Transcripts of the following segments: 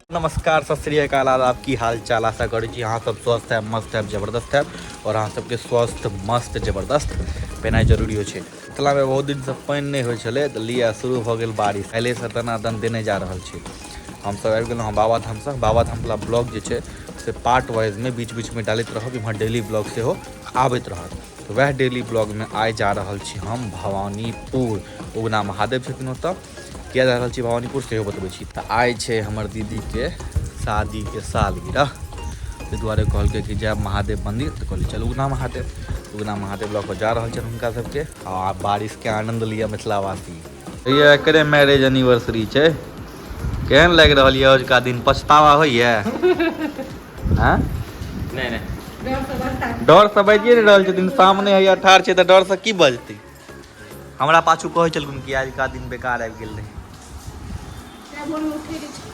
नमस्कार सत श्रीकाल आदाब की हाल चाल आशा करै छी अहाँ सब स्वस्थ है मस्त है जबरदस्त है और अहाँ सबके स्वस्थ मस्त जबरदस्त पेनाइ जरूरी होइ छै मिथिलामे बहुत दिनसँ पानि नहि होइ छलै तऽ लिअ शुरू भऽ गेल बारिश पहिलेसँ दनादन देने जा रहल छै हमसब आबि गेलहुँ हँ बाबाधामसँ बाबाधामवला ब्लॉग जे छै से पार्ट वाइजमे बीच बीचमे डालैत रहब इम्हर डेली ब्लॉग सेहो आबैत रहत तऽ वएह डेली ब्लॉगमे आइ जा रहल छी हम भवानीपुर उगना महादेव छथिन ओतऽ किया जा रहल छी भवानीपुर सेहो बतबै छी तऽ आइ छै हमर दीदीके शादीके सालगिरह ताहि दुआरे कहलकै कि जायब महादेव मन्दिर तऽ कहलियै चलू उगना महादेव उगना महादेव लऽ कऽ जा रहल छनि हुनका सभके आ बारिशके आनन्द लिअ मिथिलावासी भैया एकरे मैरिज एनिवर्सरी छै केहन लागि रहल यऽ अजुका दिन पछतावा होइए हँ नहि नहि डरसँ बाजिए नहि रहल छथिन सामने हैया ठाढ़ छै तऽ डरसँ की बजतै हमरा पाछू कहै छलखिन कि आजुका दिन बेकार आबि गेल रहै तें भोर में उठे रही छी।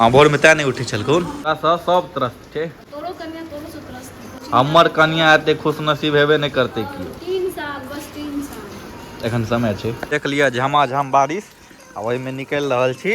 हँ भोरमे तैँ नहि उठै छलखुन ओकरासँ सब त्रस्त छै तोरो कन्या तोरो से त्रस्त है। कुछ हमर नहीं। कनिया एते खुश नसीब हेबे नहि करतै केओ तीन साल बस तीन साल एखन समय छै देख लिअ झमाझम बारिश आ ओहिमे निकलि रहल छी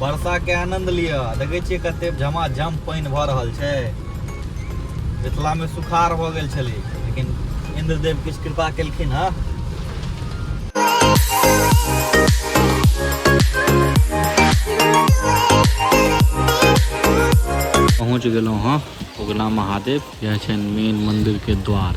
वर्षाके आनन्द लिअ देखै छियै कते झमाझम पानि भऽ रहल छै मिथिलामे सुखार भऽ गेल छलै लेकिन इन्द्रदेव किछु कृपा केलखिन हँ पहुँच गेलहुँ हँ उगना महादेव यह छनि मेन मन्दिरके द्वार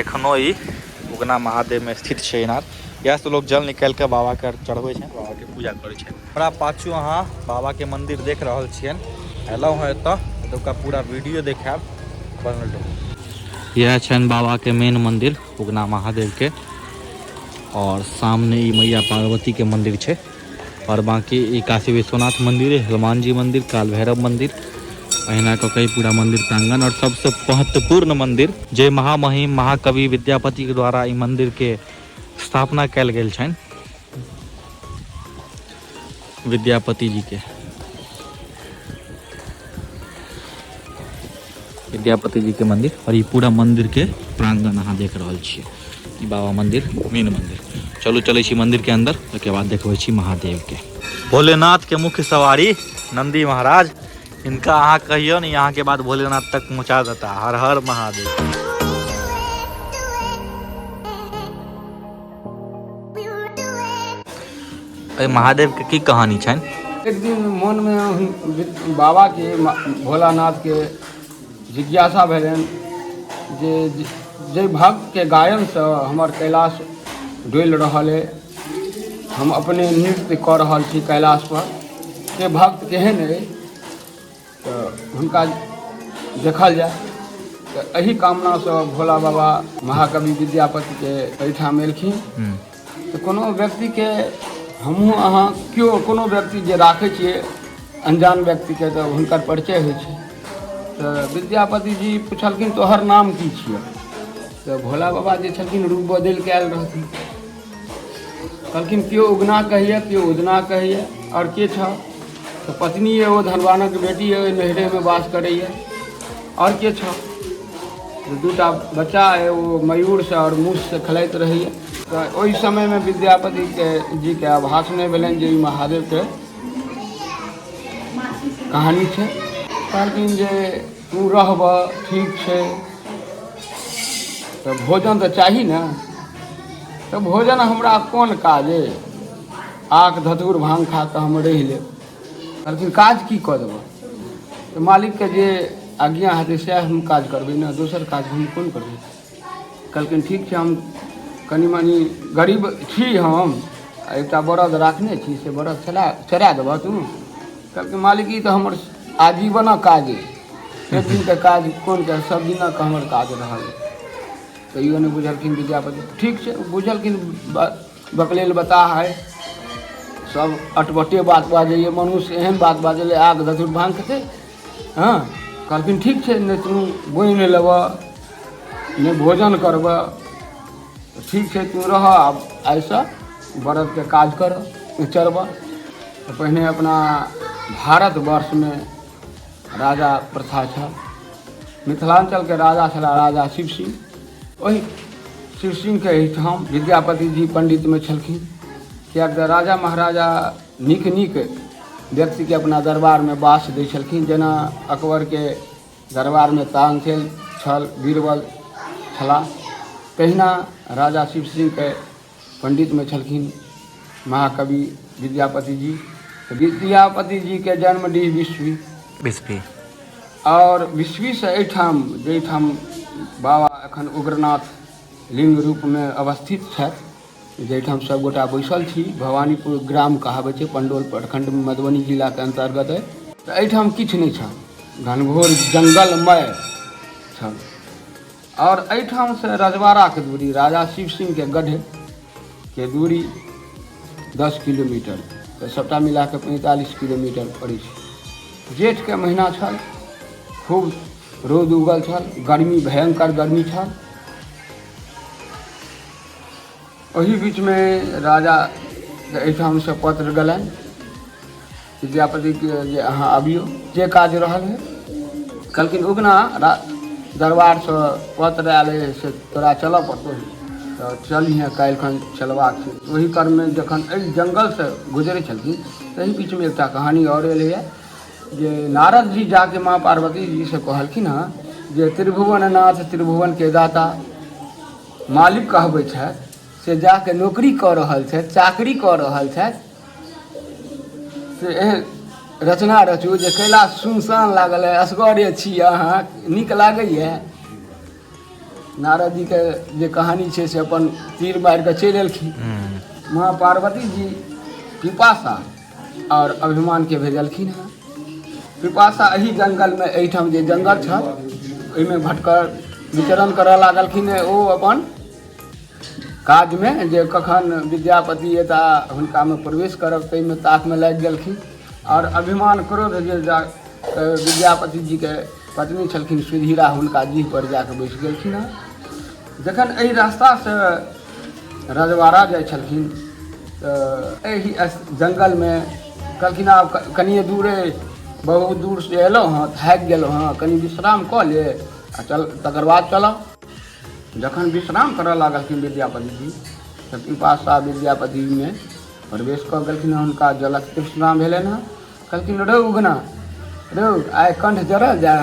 एखनो ई उगना महादेवमे स्थित छै इनार इएहसँ लोक जल निकालि कऽ बाबाके चढ़बै छनि बाबाके पूजा करै छनि हमरा पाछू अहाँ बाबाके मन्दिर देख रहल छियनि अयलहुँ हँ एतऽ एतुका पूरा वीडियो देखायब बनल रहू इएह छनि बाबाके मेन मन्दिर उगना महादेवके आओर सामने ई मैया पार्वतीके मन्दिर छै आओर बाँकी ई काशी विश्वनाथ मन्दिर हनुमान जी मन्दिर काल भैरव मन्दिर अहिना कऽ कऽ पूरा मन्दिर प्राङ्गण आओर सबसँ महत्वपूर्ण मन्दिर जे महामहिम महाकवि विद्यापतिके द्वारा ई मन्दिरके स्थापना कयल गेल छनि विद्यापति जीके विद्यापति जी के मंदिर और ये पूरा मंदिर के प्रांगण अहाँ देख रहा छे ई बाबा मंदिर मेन मंदिर चलू चले छी मंदिर के अंदर ओके बाद देखबे छी महादेव के भोलेनाथ के मुख्य सवारी नंदी महाराज इनका अहाँ कहियो ने यहाँ के बाद भोलेनाथ तक पहुँचा देता हर हर महादेव एहि महादेवके की कहानी छनि एक दिन मोनमे हुन- बाबाके मा- भोलानाथके जिज्ञासा भेलनि जे जे- जाहि भक्तके गायनसँ हमर कैलाश डोलि रहल अइ हम अपने नृत्य कऽ रहल छी कैलाशपर से भक्त केहन अइ तऽ हुनका देखल जाय तऽ एहि कामनासँ भोला बाबा महाकवि विद्यापतिके एहिठाम एलखिन तऽ कोनो व्यक्तिके हमहूँ अहाँ केओ कोनो व्यक्ति जे राखै छियै अनजान व्यक्तिके तऽ हुनकर परिचय होइ छै तऽ विद्यापति जी पुछलखिन तोहर नाम की छियै तऽ भोला बाबा जे छलखिन रूप बदलि कऽ आयल रहथिन कहलखिन केओ उगना कहैए केओ उदना कहैए आओर के छह तऽ पत्नी यए ओ धनवानक बेटी यए ओहि नैहरेमे वास करैए आओर के छह तऽ दू टा बच्चा अइ ओ मयूरसँ आओर मूससँ खेलाइत रहैए तऽ ओहि समयमे विद्यापतिके जीके आभास नहि भेलनि जे ई महादेवके कहानी छै कहलखिन जे तू रहबह ठीक छै तऽ भोजन तऽ चाही ने तऽ भोजन हमरा कोन काज अइ आक धतुर भांग खा कऽ हम रहि लेब कहलखिन काज की कऽ देबह तऽ मालिकके जे आज्ञा हेतै सएह हम काज करबै ने दोसर काज हम कोन करबै कहलखिन ठीक छै हम कनि मनि गरीब छी हम आ एकटा बरद राखने छी से बरद चला चरा देबह तू कहलखिन मालिक ई तऽ हमर आजीवनक काज अइ एक दिनके काज कोन काज सब दिनक हमर काज रहल तैयो नहि बुझलखिन विद्यापति ठीक छै बुझलखिन बकलेल बताह है सब अटबटे बात बाजैए मनुष्य एहन बात बाजल आग धतुर भाँग खेतै हँ कहलखिन ठीक छै नहि तू बोनि नहि लेबऽ नहि भोजन करबऽ ठीक छै तू रहऽ आब आइसँ बरदके काज करऽ उचरबऽ तऽ पहिने अपना भारतवर्षमे राजा प्रथा छल मिथिलाञ्चलके राजा छला राजा शिव सिंह ओहि शिव सिंहके एहिठाम विद्यापति जी पण्डितमे छलखिन किएक तऽ राजा महाराजा नीक नीक व्यक्तिके अपना दरबारमे बास दै छलखिन जेना अकबरके दरबारमे तानसेन छल बीरबल छलाह तहिना राजा शिव सिंहके पण्डितमे छलखिन महाकवि विद्यापति जी विद्यापति जीके जन्म डी विश्वी विश्वी आओर विश्वीसँ एहिठाम जाहिठाम बाबा एखन उग्रनाथ लिङ्ग रूपमे अवस्थित छथि जाहिठाम सब गोटा बैसल छी भवानीपुर ग्राम कहाबै छै पंडोल प्रखंड मधुबनी जिला के अंतर्गत है तऽ एहिठाम किछु नहि छल घनघोर जंगलमय छल आओर एहिठाम से रजवाड़ा के दूरी राजा शिव सिंह के गढ़ के दूरी दस किलोमीटर तऽ सबटा मिला के पैंतालीस किलोमीटर पड़ै छै जेठ के महीना छल खूब रौद उगल छल गर्मी भयंकर गर्मी छल ओहि बीचमे राजा एहिठामसँ पत्र गेलनि विद्यापतिके जे अहाँ अबियौ जे काज रहल है कहलखिन उगना दरबारसँ पत्र आयल है से तोरा चलऽ पड़तौ तऽ चलिहे काल्हिखन चलबाक छै ओहि क्रममे जखन एहि जङ्गलसँ गुजरै छलखिन तही बीचमे एकटा कहानी आओर एलैए जे नारद जी जाके माँ पार्वती जीसँ कहलखिन हँ जे त्रिभुवननाथ त्रिभुवनके दाता मालिक कहबै छथि से जाके नौकरी कऽ रहल छथि चाकरी कऽ रहल छथि से एहन रचना रचू जे कैला सुनसान लागल है असगरे छी अहाँ नीक लागैए नारद जीके जे कहानी छै से अपन तीर मारि कऽ चलि एलखिन माँ पार्वती जी पिपासा आओर अभिमानके भेजलखिन हँ विपाशा एहि जङ्गलमे एहिठाम जे जङ्गल छल ओहिमे भटकर विचरण करऽ लागलखिन ओ अपन काजमे जे कखन विद्यापति एता हुनकामे प्रवेश करब ताहिमे ताकमे लागि गेलखिन आओर अभिमान क्रोध जे जा विद्यापति जीके पत्नी छलखिन सुधीरा हुनका जीह पर जाके बैस गेलखिन हँ जखन एहि रास्तासँ रजवाड़ा जाइ छलखिन तऽ एहि जङ्गलमे कहलखिन आब कनिए दूरे बहुत दूरसँ अयलहुँ हँ थाकि गेलहुँ हँ कनि विश्राम कऽ ले आ चल तकर बाद चलब जखन विश्राम करऽ लागलखिन विद्यापति जी तऽ पिपासा विद्यापतिमे प्रवेश कऽ गेलखिन हँ हुनका जलक तृष्णा भेलनि हँ कहलखिन रौ उगना रौ आइ कंठ जरल जाय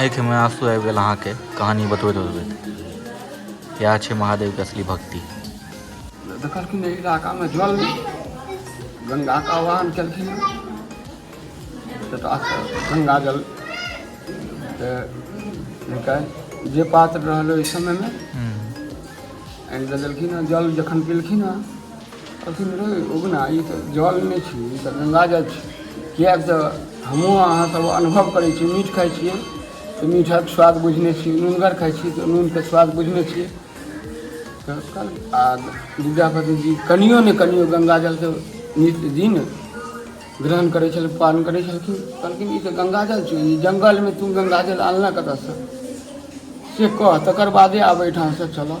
आँखिमे आँसू आबि गेल अहाँके कहानी बतबैत बतबैत इएह छै महादेवके असली भक्ति देखलखिन एहि इलाकामे जल गङ्गाके आह्वान केलखिन गङ्गा जल तऽ जे पात्र रहल ओहि समयमे आनि कऽ देलखिन हेँ जल जखन पीलखिन हेँ अथीमे रहै उगना ई तऽ जल नहि छी ई तऽ गङ्गा जल छी किएक तऽ हमहूँ अहाँ सब अनुभव करै छी मीठ खाइ छियै तऽ मीठक स्वाद बुझने छी नूनगर खाइ छी तऽ नूनके स्वाद बुझने छी तऽ कल आ विद्यापति जी कनियो ने कनियो गङ्गा जलके नित्य दिन ग्रहण करै छल पान करै छलखिन कहलखिन ई तऽ गङ्गा जल छी ई जङ्गलमे तू गङ्गा जल आनलऽ कतऽसँ से कह तकर बादे आब एहिठामसँ चलऽ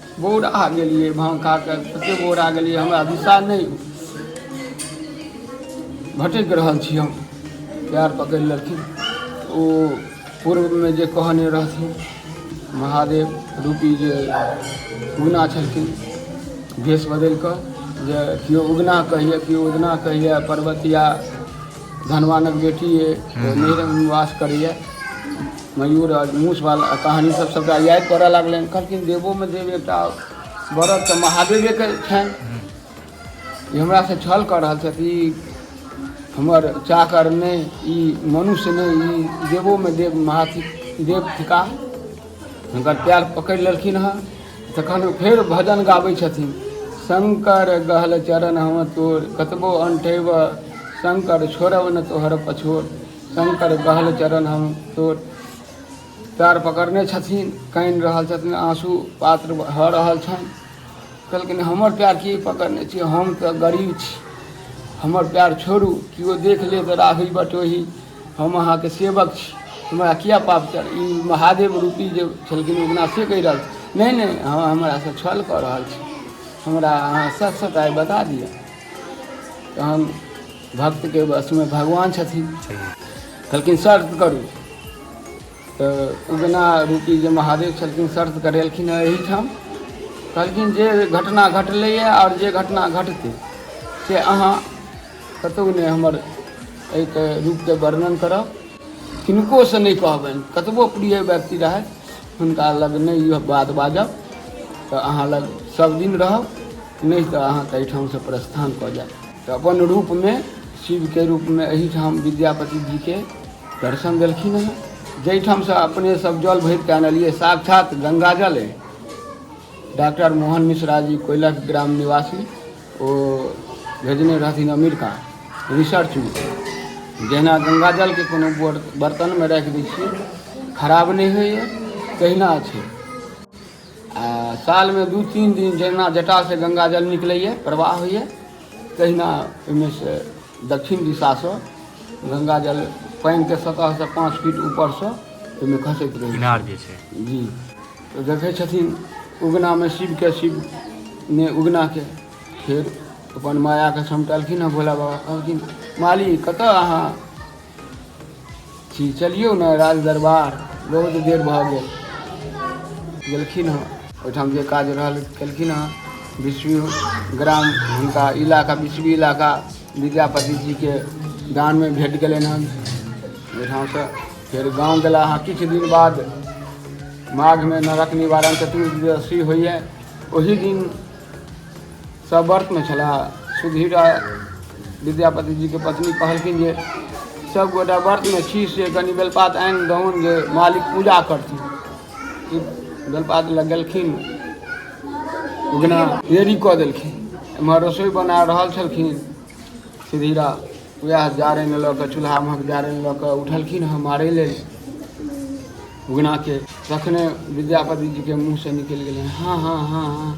बौरा गेलियै भाँग खा कऽ कतेक बौरा गेलियै हमरा दिशा नहि भटकि रहल छी हम प्यार पकड़ि लेलखिन ओ पूर्वमे जे कहने रहथिन महादेव रूपी जे उगना छलखिन भेष बदलि कऽ जे केओ उगना कहैए केओ उगना कहैए पर्वतिया धनवानक बेटी अइ ओ नैहरमे निवास करैए मयूर आ मूस वाला कहानी सब सबटा याद करऽ लागलनि कहलखिन देवोमे देव एकटा व्रत तऽ महादेवेके छनि ई हमरासँ छल कऽ रहल छथि ई हमर चाकर नहि ई मनुष्य नहि ई देवोमे देव महाथि देव थिका हुनकर पैर पकड़ि लेलखिन हँ तखन ओ फेर भजन गाबै छथिन शंकर गहल चरण हम तोर कतबो अंठेब शंकर छोड़ब न तोहर पछोर शंकर बहल चरण हम तोर पैर पकड़ने छथिन कानि रहल छथिन आँसू पात्र भऽ रहल छनि कहलखिन हमर पैर की पकड़ने छी हम तऽ गरीब छी हमर पैर छोड़ू केओ देख लेत राही बटोही हम अहाँके सेवक छी हमरा किया पाप चढ़ ई महादेव रूपी जे छलखिन उगना से कहि रहल छी नहि नहि अहाँ हमरासँ छल कऽ रहल छी हमरा अहाँ सच सचाइ बता दिअ तहन भक्त के बस में भगवान छथिन कहलखिन शर्त करू तऽ उगना रूपी जे महादेव छलखिन शर्त करेलखिन हँ एहिठाम कहलखिन जे घटना घटलैए आओर जे घटना घटतै से अहाँ कतहु नहि हमर एहिके रूपके वर्णन करब किनकोसँ नहि कहबनि कतबो प्रिय व्यक्ति रहथि हुनका लग नहि ई बात बाजब तऽ अहाँ लग सभदिन रहब नहि तऽ अहाँके एहिठामसँ प्रस्थान कऽ जायब तऽ अपन रूपमे शिवके रूपमे एहिठाम विद्यापति जीके दर्शन देलखिन हँ जाहिठामसँ अपने सब जल भरिके आनलियै साक्षात गंगा जल अइ डॉक्टर मोहन मिश्रा जी कोयलक ग्राम निवासी ओ भेजने रहथिन अमेरिका रिसर्च जहिना गंगा जलके कोनो बर्तनमे राखि दै छियै खराब नहि होइए तहिना छै आ सालमे दू तीन दिन जहिना जटासँ गङ्गा जल निकलैए प्रवाह होइए तहिना ओहिमे से दक्षिण दिशासँ गङ्गा जल पानिके सतहसँ पाँच फीट ऊपरसँ ओहिमे खसैत रहै इनार जे छै जी तऽ देखै छथिन उगनामे शिवके शिव ने उगनाके फेर अपन मायाके समटलखिन हँ भोला बाबा कहलखिन माली कतऽ अहाँ छी चलियौ ने राज दरबार बहुत देर भऽ गेल गेलखिन हँ ओहिठाम जे काज रहल केलखिन हँ विश्व ग्राम हुनका इलाका विश्व इलाका विद्यापति जीके दानमे भेट गेलनि हँ ओहिठामसँ फेर गाँव गेला हँ किछु दिन बाद माघमे नरक निवारण चतुर्दशी होइए ओही दिन सभ व्रतमे छलाह सुधीर आ विद्यापति जीके पत्नी कहलखिन जे सभ गोटा व्रतमे छी से कनि बेलपात आनि दहुन जे मालिक पूजा करथिन ई बेलपात लग गेलखिन उगना देरी कऽ देलखिन एम्हर रसोइ बना रहल छलखिन सुधीरा उएह जारनि लऽ कऽ चूल्हा महक जारनि लऽ कऽ उठलखिन हँ मारै लेल उगनाके तखने विद्यापति जीके मुँहसँ निकलि गेलै हँ हँ हँ हँ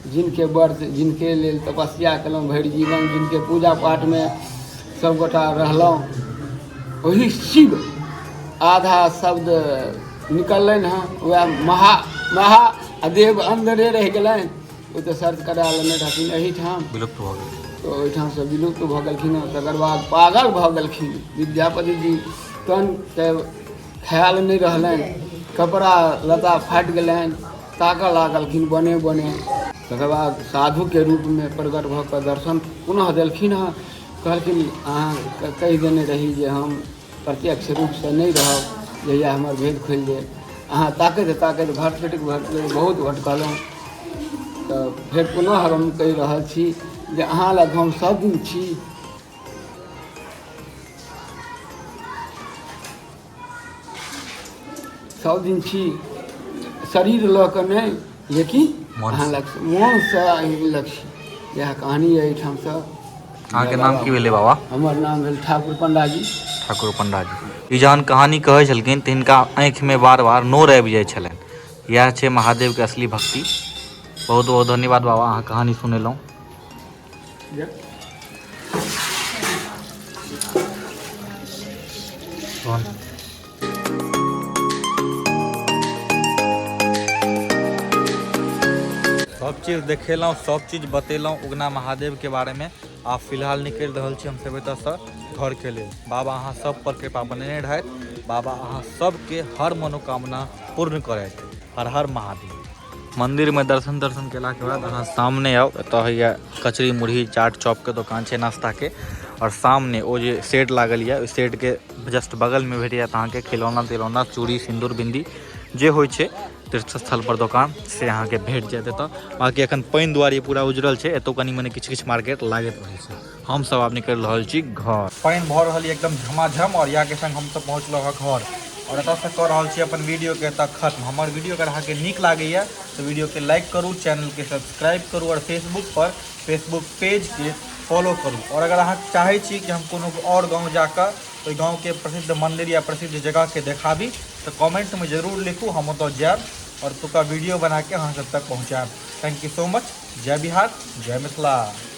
जिनके व्रत जिनके लेल तपस्या केलहुँ भरि जीवन जिनके पूजा पाठमे सभगोटा रहलहुँ ओही शिव आधा शब्द निकललनि हँ उएह महा महा आ देव अन्दरे रहि गेलनि ओ तऽ शर्त करा लेने रहथिन एहिठाम विलुप्त भऽ गेल तऽ ओहिठामसँ विलुप्त भऽ गेलखिन हँ तकर बाद पागल भऽ गेलखिन विद्यापति जी तन के ख्याल नहि रहलनि कपड़ा लता फाटि गेलनि ताकऽ लागलखिन बने बने तकर बाद साधुके रूपमे प्रगट भऽ कऽ दर्शन पुनः देलखिन हँ कहलखिन अहाँ कहि देने रही जे हम प्रत्यक्ष रूपसँ नहि रहब जहिया हमर भेद खुलि गेल अहाँ ताकैत ताकैत भट भेट बहुत भटकलहुँ तऽ फेर पुनः हम कहि रहल छी जे अहाँ लग हम सब दिन छी सब दिन छी शरीर लऽ कऽ नहि लेकिन मोन अहाँ लग मोनसँ अहीं लग छी इएह कहानी यऽ एहिठामसँ अहाँके नाम की भेलै बाबा हमर नाम भेल ठाकुर पंडाजी ठाकुर पंडाजी ई जहन कहानी कहै छलखिन तऽ हिनका आँखिमे बार बार नोर आबि जाइ छलनि इएह छै महादेवके असली भक्ति बहुत बहुत धन्यवाद बाबा अहाँ कहानी सुनेलहुँ सब चीज देखेलहुँ सब चीज बतेलहुँ उगना महादेव के बारे में आ फिलहाल निकलि रहल छी हमसब एतऽ से घर के लेल बाबा अहाँ सब पर कृपा बनेने रहथि बाबा अहाँ सबके हर मनोकामना पूर्ण करथि हर हर महादेव मंदिर में दर्शन दर्शन केला के बाद अहाँ सामने आओ एत होइया कचरी मुरही चाट चॉप के दुकान छै नाश्ता के और सामने ओ जे सेट लागल या ओहि सेट के जस्ट बगल में भेट जायत अहाँ के खिलौना तिलौना चूड़ी सिंदूर बिंदी जे होइ छै तीर्थ स्थल पर दुकान से अहाँ के भेट जायत एत बाकी अखन पानि दुआरे पूरा उजड़ल छै एतौ कनी मनी किछु किछु मार्केट लागैत रहै छै हम सब आब निकलि रहल छी घर पानि भऽ रहल य एकदम झमाझम आओर इएह के संग हमसब पहुँचलहुँ हँ घर आओर एतऽसँ कऽ रहल छी अपन वीडियोके एतऽ खत्म हमर वीडियो अगर अहाँके नीक लागैए तऽ वीडियोके लाइक करू चैनलके सब्सक्राइब करू आओर फेसबुकपर फेसबुक पेजके फॉलो करू आओर अगर अहाँ चाहै छी कि हम कोनो आओर गाँव जाकऽ ओहि गाँवके प्रसिद्ध मन्दिर या प्रसिद्ध जगहके देखाबी तऽ कमेंटमे जरूर लिखू हम ओतऽ जायब आओर ओतुका वीडियो बनाके अहाँ सब तक पहुँचायब थैंक यू सो मच जय बिहार जय मिथिला